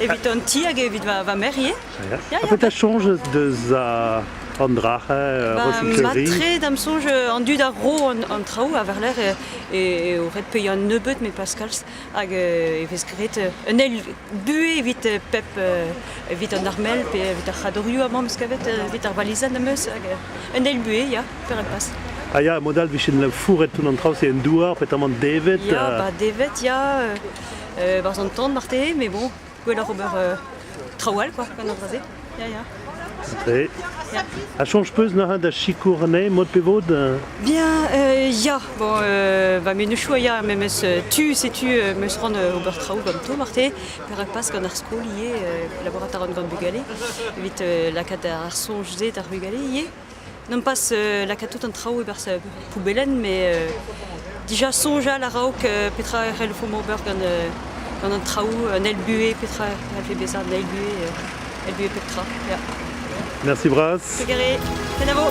Evit an ti hag evit va, merc'h ivez Ya, ya. Petra sonj deus an drac'h euh, bah, Matre, dam sonj euh, an dud a ro an, traoù a varler e, o ret peuiañ un nebeud met pas kalz hag e vez graet un eil buhez evit pep evit an armel pe evit ar c'hadorioù amam kavet evit ar balizan am eus hag un eil buhez ya per al pas. Ah ya, modal vichen fouret tout an traoù c'est un douar petamant devet. Ya, euh. ba devet ya. Euh, Barzh an tan marteze, mais bon, gwelloc'h ober traoù all quoi gant an dra-se. Ya, ya. Dre. Ya. A soñj peus neuze da sikour anezhe mod pe vod Bien, euh, ya. Bon, euh, va menezioù a ya memes euh, tu, setu euh, meus ran euh, ober traoù ganto marteze, perak pas gant ar skol ivez, euh, laborat a ran gant bugale, evit euh, lakaat ar soñj-se d'ar bugale ivez. Nompas lakaat tout an traoù e-barzh poubellenn, met dija soñjal a-raok petra e c'hellfomp ober gant, gant an traoù, un eil buhez, petra e c'hellfe bezañ un eil buhez, eil buhez pep tra. Yeah. Merci Bras. Pegere, kenavo.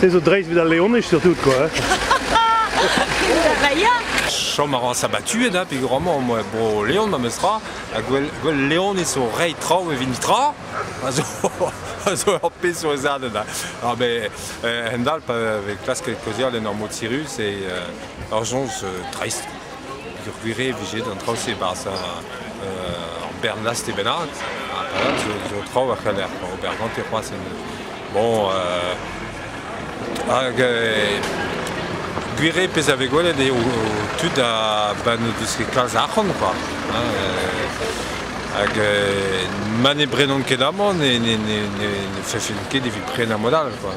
Se zo dreist vit al leonez surtout quoi. Chom a ran sabatuet, hein, peger moi bro Leon ma mesra, ha gwell, gwell Leonez o rei traou evit nitra, a zo, a zo ur pezh zo ez adet. Ah ben, eh, hendal pa vez klasket kozhial en ur mod sirus, et euh, ur sonj euh, dreist. Peogwir e vije an traoù-se e-barzh ur bern laste bennak, ha zo, zo traoù a c'heller ober gante c'hoazh. Bon, hag gwir eo pezh a vez gwelet eo tud a ben vise kalz arc'hant quoi. Hag ma ne brenont ket amañ ne, ne, ne, ne, ne fefent ket evit prenañ mod all quoi.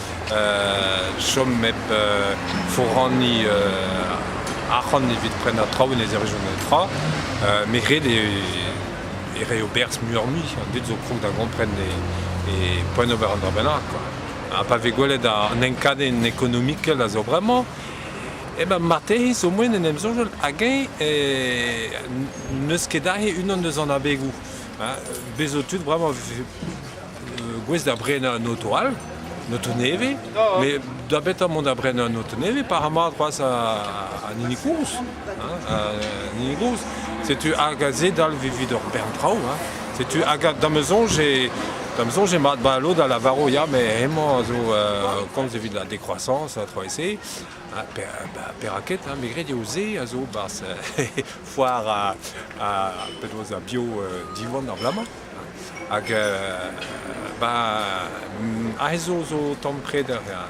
chom hep foraniñ arc'hant evit prenañ traoù e lez region tra. met ret eo e reio berzh muioc'h-mui. An dud zo krog da gompren e, poent ober un dra bennak. Ha pa vez gwelet an enkadenn ekonomikel a zo bremañ, eh ben marteze zo moen en em soñjal hag-eñ n'eus ket aze unan eus an abegoù. Bez' zo tud bremañ gouest da brenañ an auto all, an auto nevez, mais da betra mont da brenañ an auto nevez par mat c'hoazh an hini gozh. An hini gozh, setu hag a zedal evit ur bern traoù. Setu hag da ma soñj eo da ma soñj eo mat ba lod a lavaro ya mais hemañ a zo komz evit la décroissance ha 3C. Perak ket, me gred eo se a zo 'barzh foar ar penaos ar bio diwan ar bloaz-mañ. Hag ba aze zo zo tamm preder emezañ.